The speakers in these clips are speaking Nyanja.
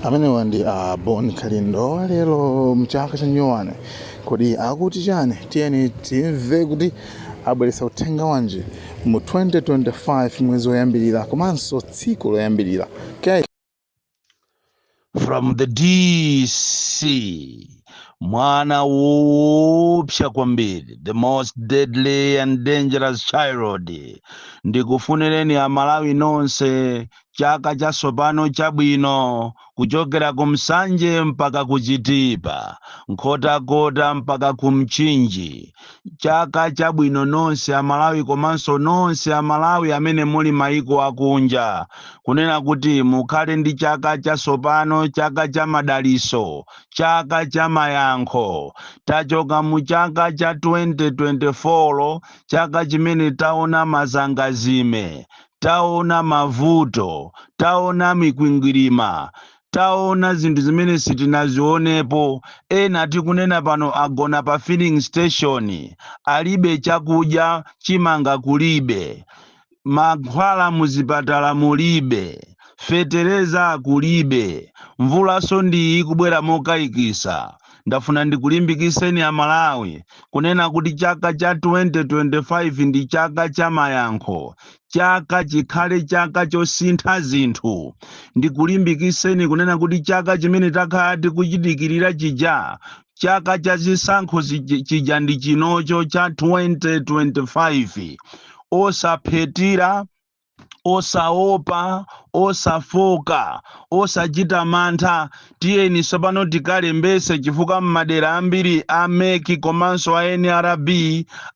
amenewa ndi a ah, bon kalindo lero mchaka chanyowane kodi akuti chani tiyeni timve kuti abweretsa uthenga wanji mu 2025 mwezi woyambirira komanso tsiku loyambirira okay. from the dc mwana woopsa kwambiri the most deadly and dangerous child ndikufunireni amalawi nonse chaka chatsopano chabwino kuchokera ku nsanje mpaka ku chitipa nkhotakota mpaka ku mchinji chaka chabwino nonse amalawi komanso nonse amalawi amene muli maiko akunja kunena kuti mukhale ndi chaka chatsopano chaka cha madaliso chaka cha mayankho tachoka mu chaka cha 2024 chaka chimene taona mazangazime taona mavuto, taona mikwingwirima, taona zinthu zimene sitinazionepo. Ena tikunena pano agona pa filling station, alibe chakudya, chimanga kulibe, mankhwala muzipatala mulibe, fetereza kulibe, mvulanso ndi iyi ikubwera mokayikisa. Ndafuna ndikulimbikiseni a Malawi kunena kuti chaka cha 2025 ndi chaka cha mayankho, chaka chikhale chaka chosintha zinthu. Ndikulimbikiseni kunena kuti chaka chimene takhala tikuchidikirira chija, chaka cha zisankho chija ndi chinocho cha 2025. Osaphetira, osaopa osafoka osachita mantha tiyeni tsopano tikalembetse chifukwa m'madera ambiri a mec komanso a nrb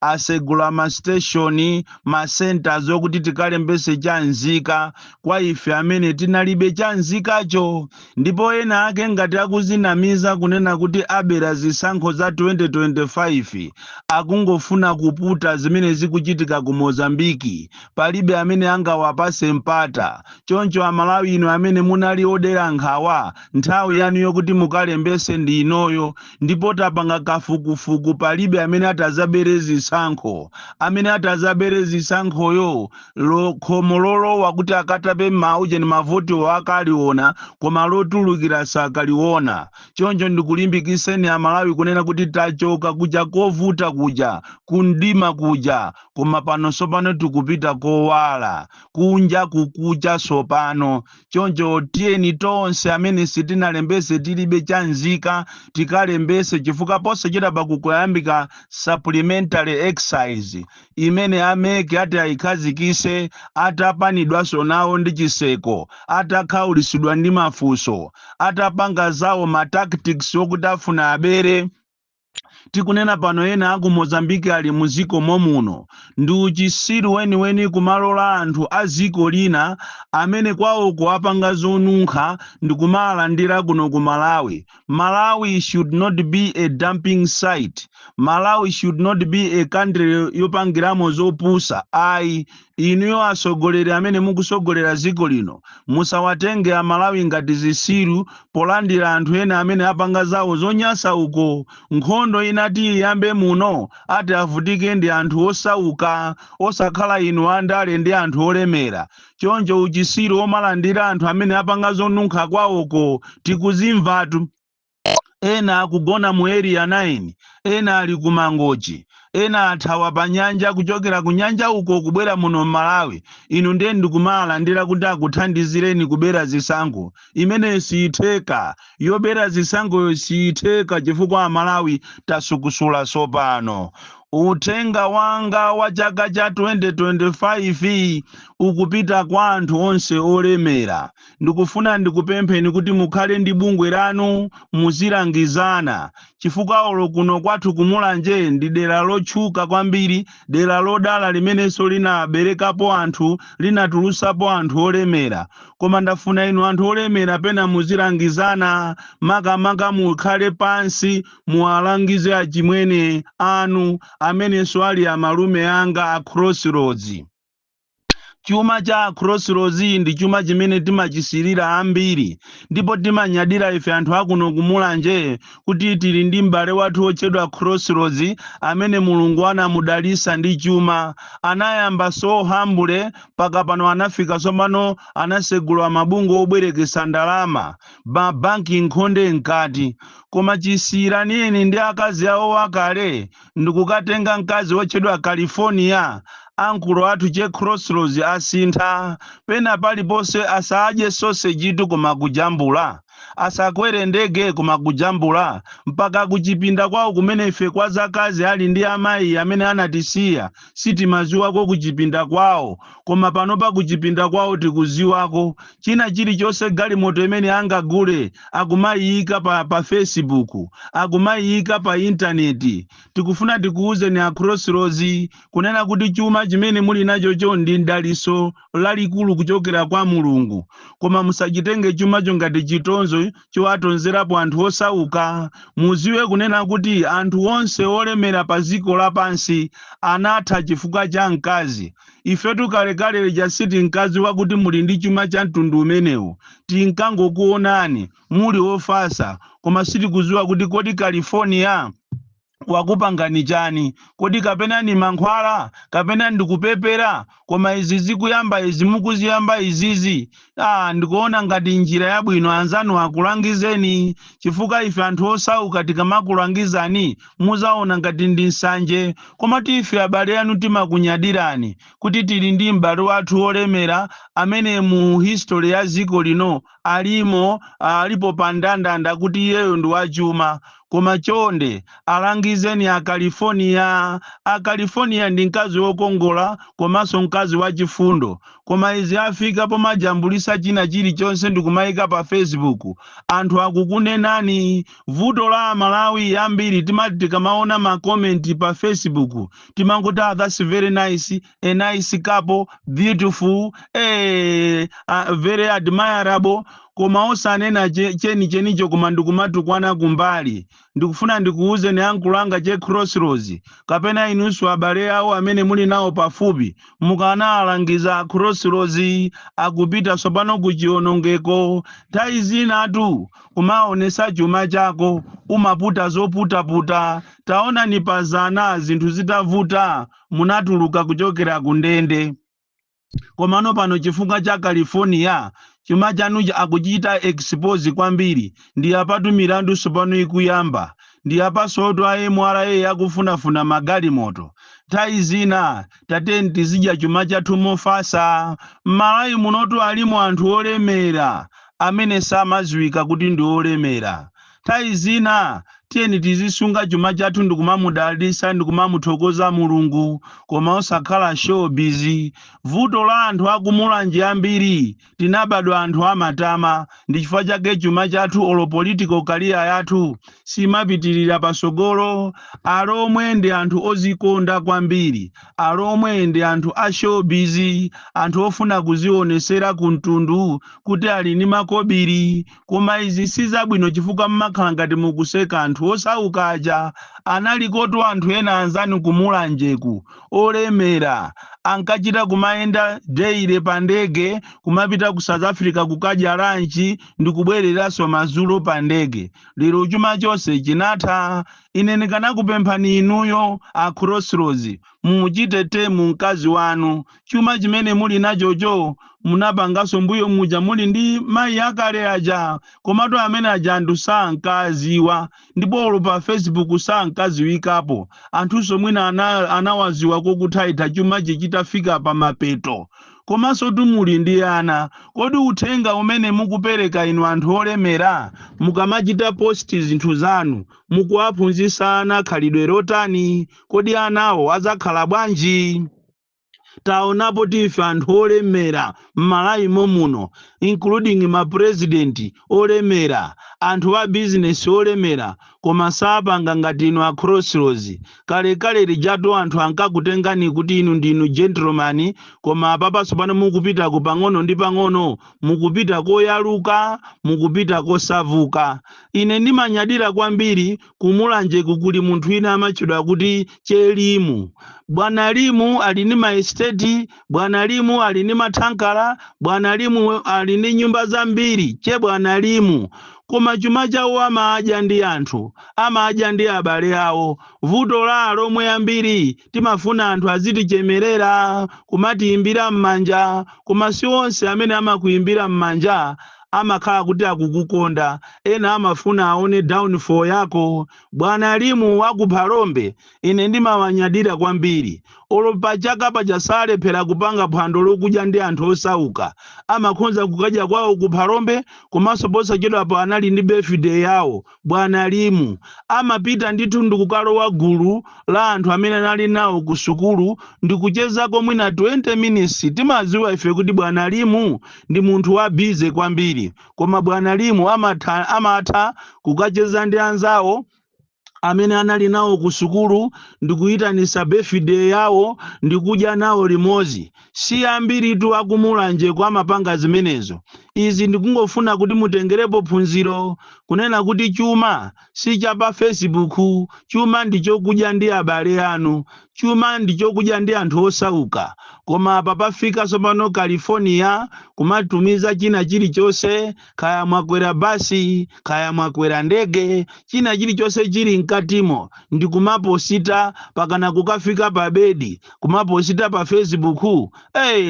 asegula masiteshoni masentaz okuti tikalembetse chamzika kwa ife amene tinalibe chamzikacho ndipo ena ake ngati akuzinamiza kunena kuti abera zisankho za 2025 akungofuna kuputa zimene zikuchitika ku mozambiki palibe amene angawapatse mpata. Choncho Amalawi inu amene munali odera nkhawa, nthawi yanu yokuti mukalembetse ndi inoyo ndipo tapanga kafukufuku palibe amene atadzabere zisankho. Amene atadzabere zisankhoyo lo- khomo lolowa kuti akatape maujeni mavotiwo akaliona koma lotulukira sakaliona. Choncho ndikulimbikiseni Amalawi kunena kuti tachoka kuja kovuta kuja, kumdima kuja, Koma pano tsopano tikupita kowala, kunja kukucha tsopano. Choncho tiyeni tonse amene sitinalembetse tilibe cha nzika tikalembetse chifukwa posachedwapa kukuyambika supplementary exercise imene a MEC ati ayikhazikitse atapanidwanso nawo ndi chitseko, atakhaulitsidwa ndi mafunso, atapanga zawo ma tactics okuti afuna abere. Tikunena pano ena aku Mozambique ali mu ziko momuno. Ndi uchisiru weniweni kumalola anthu a ziko lina amene kwawoko apanga zonunkha ndikumaalandira kuno ku Malawi. Malawi should not be a dumping site. Malawi should not be a country yopangiramo zopusa ayi. Inuyo atsogoleri amene mukutsogolera dziko lino musawatenge a Malawi ngati zitsiru polandira anthu ena amene apanga zawo zonyansa uko. Nkhondo inati iyambe muno ati avutike ndi anthu osauka osakhala inu a ndale ndi anthu olemera. Choncho uchitsiru omalandira anthu amene apanga zonunkha kwawoko tikuzimvatu. ena akugona mu area 9 ena ali ku mangochi ena athawa pa nyanja kuchokera ku nyanja uko kubwera muno m'Malawi inu ndiye ndikumaalandira kuti akuthandizireni kubera zisankho imeneyo siyitheka yobera zisankhoyo siyitheka chifukwa amalawi tasukusula tsopano uthenga wanga wa chaka cha 2025 ukupita kwa anthu onse olemera Ndikufuna ndikupempheni kuti mukhale ndi bungwe lanu muzilangizana chifukwa olo kuno kwathu ku Mulanje ndi dera lotchuka kwambiri, dera lodala limenenso linaberekapo anthu, linatulutsapo anthu olemera. Koma ndafuna inu anthu olemera pena muzilangizana makamaka mukhale pansi muwalangize achimwene anu amenenso ali amalume anga a Crossroads. Chuma cha Crossroads ndi chuma chimene timachisirira ambiri, ndipo timanyadira ife anthu akuno ku Mulanje kuti tili ndi m'bale wathu wotchedwa Crossroads amene Mulungu anamudalisa ndi chuma. Anayamba so humble mpaka pano anafika tsopano anasegula mabungwe obwerekesa ndalama, ma bank nkhonde mkati. Koma chisiyiraneni ndi akazi awo akale ndikukatenga mkazi wotchedwa California, ankulo athu che Crossroads asintha, pena paliponse asaadye sausage tu koma kujambula, asakwere ndege koma kujambula, mpaka kuchipinda kwawo kumene ife kwa zakazi ali ndi amayi amene anatisiya, sitimaziwako kuchipinda kwawo koma panopa kuchipinda kwawo tikuziwako china chilichonse galimoto imene angagule akumayiyika pa pa Facebook akumayiyika pa internet tikufuna tikuwuzeni a Crossroads kunena kuti chuma chimene muli nachocho ndi mdaliso lalikulu kuchokera kwa Mulungu koma musachitenge chumacho ngati chitonzo chowatonzerapo anthu osauka. Muziwe kunena kuti anthu onse olemera pa ziko lapansi anatha chifukwa cha mkazi. Ifetu kalekale lija siti mkazi wakuti muli ndi chuma cha mtundu umenewo. Tinkangokuonani muli ofasa koma sitikuziwa kuti kodi California wakupangani chani kodi kapena ni mankhwala kapena ndikupepera koma izi zikuyamba izi mukuziyamba izizi ah ndikuona ngati njira yabwino anzanu akulangizeni chifukwa ife anthu osauka tikamakulangizani muzaona ngati ndi nsanje koma ife abale anu timakunyadirani kuti tili ndi m'bale wathu wolemera amene mu history ya ziko lino alimo alipo pa ndandanda kuti iyeyo ndi wachuma koma chonde alangizeni a California. A California ndi mkazi wokongola komanso mkazi wachifundo koma izi afika pomajambulisa china chilichonse ndikumaika pa Facebook anthu akukunenani. Vuto la a Malawi ambiri timati tikamaona ma comment pa Facebook timangoti ah that's very nice, a nice couple beautiful eh, uh, very admirable koma osanena che- chenichenicho koma ndikumatukwana kumbali ndikufuna ndikuuzeni ankolo anga che crossroads kapena inunso abale awo amene muli nawo pafupi mukanawalangiza a crossroads akupita tsopano ku chionongeko nthawi zinatu kumaonesa chuma chako umaputa zoputaputa taonani pa zana zinthu zitavuta munatuluka kuchokera ku ndende. Komano pano chifukwa cha California, chuma chanuchi akuchita expose kwambiri. Ndi apatu milandu tsopano ikuyamba. Ndi apansotu a mra akufunafuna magalimoto. Nthawi zina tiyeni tizidya chuma chathu mofatsa. M'Malawi munotu alimo anthu olemera amene samaziwika kuti ndi olemera. Nthawi zina tiyeni tizisunga chuma chathu ndikumamudalitsa ndikumamuthokoza Mulungu koma osakhala showbiz. Vuto la anthu aku Mulanje ambiri tinabadwa anthu amatama ndichifukwa chake chuma chathu olo political career yathu simapitirira pasogolo. Alomwe ndi anthu ozikonda kwambiri. Alomwe ndi anthu a showbiz, anthu ofuna kuzionesera ku mtundu kuti ali ndi makobiri Koma izi si zabwino chifukwa mmakhala ngati mukuseka anthu osauka aja analikotu anthu ena anzanu ku Mulanjeku olemera ankachita kumayenda daily pa ndege kumapita ku South Africa kukadya lunch ndikubwereranso madzulo pa ndege. Lero chuma chonse chinatha. Ine ndikanakupemphani inuyo a Crossroads mumuchite tame mkazi wanu chuma chimene muli nachocho munapanganso mbuyo muja muli ndi mayi akale aja komatu amene aja anthu sankawaziwa ndipo olo pa facebook sankaziwikapo anthunso mwina anawaziwa kokuthaitha chumachi chitafika pa mapeto komansotu muli ndi ana kodi uthenga umene mukupereka inu anthu olemera mukamachita post zinthu zanu mukuwaphunzitsa ana khalidwe lotani kodi anawo adzakhala bwanji taonapotu ife anthu olemera m'malawi momuno including ma president olemera anthu a business olemera koma sapanga ngati inu a crossroads kalekale lijatu anthu ankakutengani kuti inu ndinu gentleman koma apapa tsopano mukupitako pang'ono ndi pang'ono mukupita koyaluka mukupita kosavuka ine ndimanyadira kwambiri Ku Mulanjeku kuli munthu wina amatchedwa kuti Che Limu. Bwana Limu ali ndi maesiteti, Bwana Limu ali ndi mathankala, Bwana Limu ali ndi nyumba zambiri, Che Bwana Limu. Koma chuma chawo amadya ndi anthu, amadya ndi abale awo. Vuto la Alomwe ambiri timafuna anthu azitichemerera, kumatiimbira m'manja, koma si onse amene amakuimbira m'manja amakhala kuti akukukonda. Ena amafuna aone downfall yako. Bwana Limu wa ku Phalombe ine ndimawanyadira kwambiri. Olo pa chaka paja salephera kupanga phwando lokudya ndi anthu osauka. Amakhonza kukadya kwawo ku Phalombe komanso posachedwapa anali ndi birthday yawo. Bwana Limu amapita ndithu ndikukalowa gulu la anthu amene anali nawo ku sukulu ndikuchezako mwina 20 minutes. Timadziwa ife kuti bwana Limu ndi munthu wa busy kwambiri koma bwana Limu amatha kukacheza ndi anzawo amene anali nawo ku sukulu ndikuyitanisa birthday yawo ndikudya nawo limodzi. Si ambiritu a ku Mulanjeku amapanga zimenezo. Izi ndikungofuna kuti mutengerepo phunziro kunena kuti chuma si cha pa fesibuku, chuma ndi chokudya ndi abale anu, chuma ndi chokudya ndi anthu osauka. Koma apa pafika tsopano California kumatumiza china chilichonse kaya mwakwera basi kaya mwakwera ndege china chilichonse chili mkatimo ndi kumaposita pakana kukafika pa bedi kumaposita pa facebook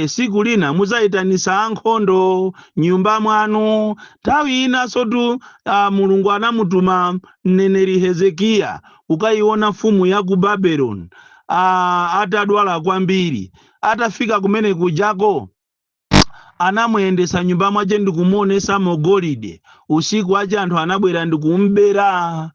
siku lina muzayitanisa ankhondo nyumba mwanu nthawi inansotu uh, mulungu anamutuma mneneri hezekiya ukayiona mfumu ya ku babeloni uh, atadwala kwambiri atafika kumene kujako anamuyendesa nyumba mwache ndi kumuonesamo golide usiku wache anthu anabwera ndi kumbera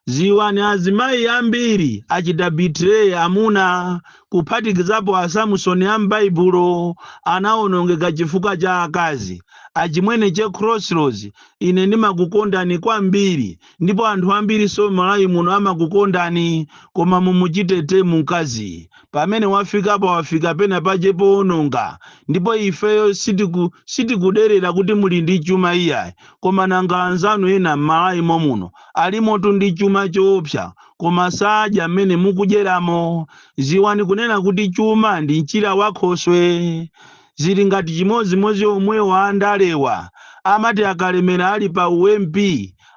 ziwani azimayi ambiri achita betray amuna kuphatikizapo a samusoni a m'baibulo anawonongeka chifukwa cha akazi achimwene che crossroads ine ndimakukondani kwambiri ndipo anthu ambirinso m'Malawi muno amakukondani koma mumuchite tame mkazi pamene wafikapa wafika pena pache powononga ndipo ifeyo sitiku sitikuderera kuti muli ndi chuma iyayi koma nanga anzanu ena m'Malawi momuno alimotu ndi chuma choopsa koma sadya mmene mukudyeramo ziwani kunena kuti chuma ndi mchira wa khoswe zili ngati chimodzimodzi omwewa andalewa amati akalemera ali pa u MP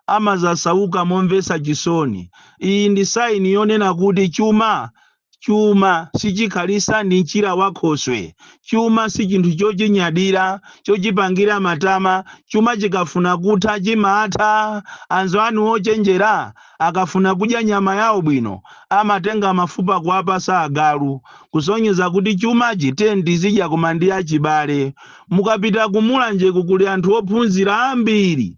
amazasauka momvesa chisoni iyi ndi sign yonena kuti chuma chuma sichikhalisa ndi mchira wa khoswe chuma si chinthu chochinyadira chochipangira matama chuma chikafuna kutha chimatha anzanu ochenjera akafuna kudya nyama yawo bwino amatenga mafupa kuwapasa agalu kusonyeza kuti chumachi tiyeni tizidya koma ndi achibale mukapita ku mulanjeku kuli anthu ophunzira ambiri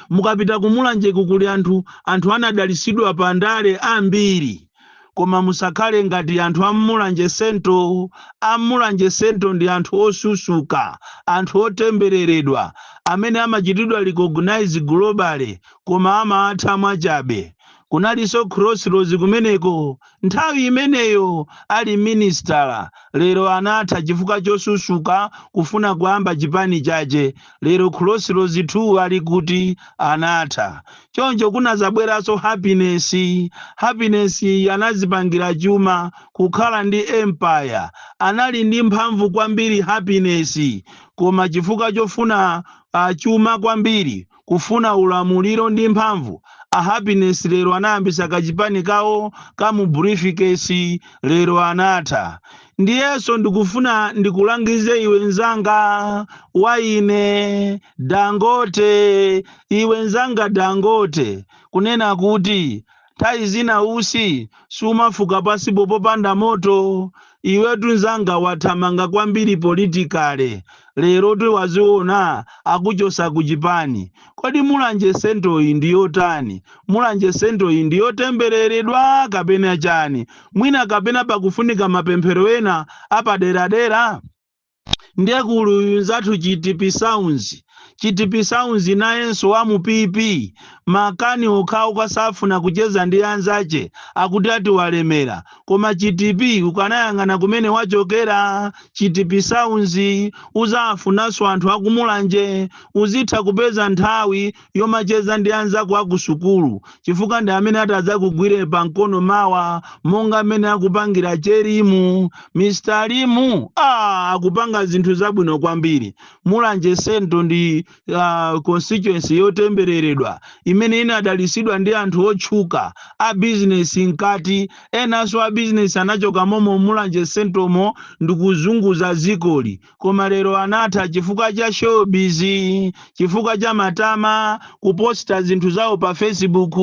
mukapita ku mulanjeku kuli anthu anthu anadalisidwa pa ndale ambiri koma musakhale ngati anthu a m'Mulanje Central. A m'Mulanje Central ndi anthu osusuka, anthu otembereredwa amene amachitidwa recognize globally koma amatha mwachabe. Kunalinso Crossroads kumeneko nthawi imeneyo ali minisitala, lero anatha chifukwa chosusuka kufuna kuyamba chipani chache. lero Crossroads 2 ali kuti anatha choncho kunazabweraso happiness happiness iyi anazipangira chuma kukhala ndi empire anali ndi mphamvu kwambiri happiness koma chifukwa chofuna uh, chuma kwambiri kufuna ulamuliro ndi mphamvu a happiness lero anayambisa kachipani kawo ka mu briefcase lero anatha Ndiyenso ndikufuna ndikulangize iwe nzanga wa ine Dangote, iwe nzanga Dangote, kunena kuti nthawi zina usi siumafuka pasipo popanda moto. Iwetu nzanga wathamanga kwambiri politikale, lerotu waziona akuchosa ku chipani. Kodi Mulanje Central iyi ndi yotani? Mulanje Central iyi ndi yotembereredwa kapena chani? mwina kapena pakufunika mapemphero ena apaderadera ndiye kuli uyu nzathu Chitipi sounds chitipi sounds nayenso wa mu pp makani okhawo kasafuna kucheza ndi anzache akuti ati walemera koma chitipi ukanayang'ana kumene wachokera chitipi sounds uzafunanso anthu akumulanje uzitha kupeza nthawi yomacheza ndi anzako a kusukulu chifukwa ndi amene atadzakugwire pa mkono mawa monga mmene akupangira cherimu mr limu ah, akupanga zinthu zabwino kwambiri mulanje sento ndi uh, constituency yotembereredwa imene inadalisidwa ndi anthu otchuka a bizinesi mkati enanso a bizinesi anachoka momo mulanje sentomo ndikuzunguza dzikoli koma lero anatha chifukwa cha showbiz chifukwa cha matama kuposta zinthu zawo pa facebook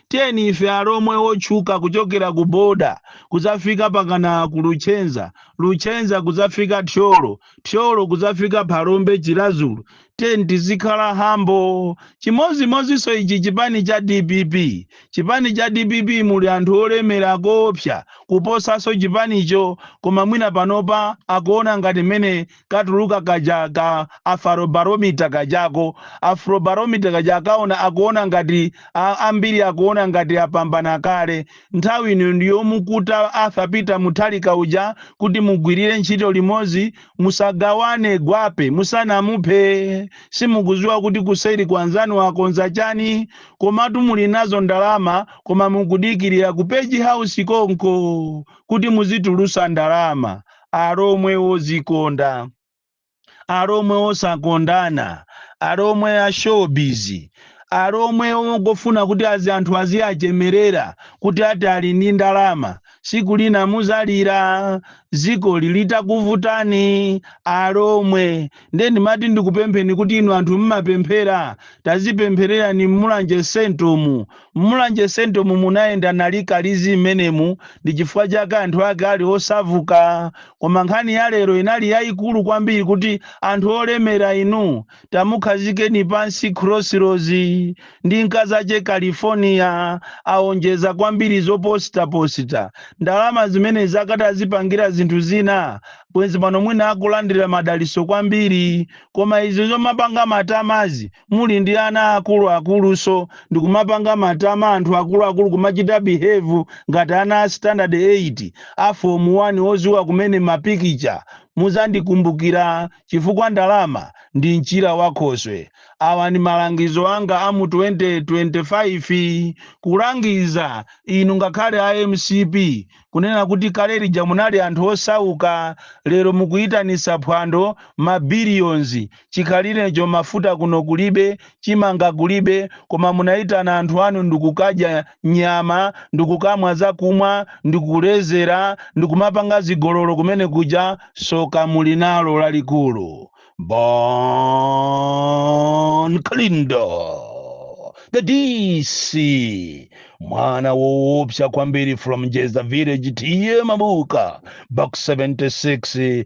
tiyeni ife alomwe wotchuka kuchokera ku boda kuzafika mpakana ku luchenza luchenza kuzafika thyolo thyolo kuzafika phalombe chilazulu tiyeni tizikhala humble chimodzimodzinso ichi chipani cha dpp chipani cha dpp muli anthu olemera koopsa kuposanso chipanicho koma mwina panopa akuona ngati mmene katuluka kaja ka Afrobarometer kajako Afrobarometer kaja akaona akuona ngati a- ambiri akuona ngati apambana kale nthawi ino ndiyomukuta arthur peter Mutharika uja kuti mugwirire ntchito limodzi musagawane gwape musanamuphe simukuziwa kuti kuseri kwanzanu akonza chani komatu muli nazo ndalama koma mukudikirira ku page house konko kuti muzitulusa ndalama alomwe wozikonda alomwe wosakondana alomwe a showbiz alomwe ongofuna kuti azi anthu aziyachemerera kuti ati ali ndi ndalama siku lina muzalira ziko litakuvutani alomwe nde ndimati ndikupempheni kuti inu anthu mmapemphera tazipemphererani mmulanje sentomu mmulanje sentomu munayenda nalikalizi mmenemu ndi chifukwa chake anthu ake ali osavuka koma nkhani ya lero inali yaikulu kwambiri kuti anthu olemera inu Tamukhazikeni pansi Crossroads ndi mkazache California awonjeza kwambiri zoposita posita ndalama zimenezi akadazipangira zinthu zina bwenzi pano mwina akulandira madaliso kwambiri koma izi zomapanga matamazi muli ndi ana akulu akulunso ndikumapanga matama anthu akulu akulu kumachita behave ngati ana a standard 8 a form 1 oziwa kumene mapikicha muzandikumbukira chifukwa ndalama ndi mchira wa khoswe. Awa ndi malangizo anga a mu 2025 kulangiza inu ngakhale a mcp kunena kuti kale lija munali anthu osauka lero mukuitanitsa phwando ma billions chikhalirecho mafuta kuno kulibe chimanga kulibe koma munaitana anthu anu ndikukadya nyama, ndi kukamwa zakumwa, ndi kulezera, ndi kumapanga zigololo kumene kuja, soka muli nalo lalikulu. Bon Kalindo, the DC, mwana woopsa kwambiri from Jeza Village, T/A Mabuka, Box 76,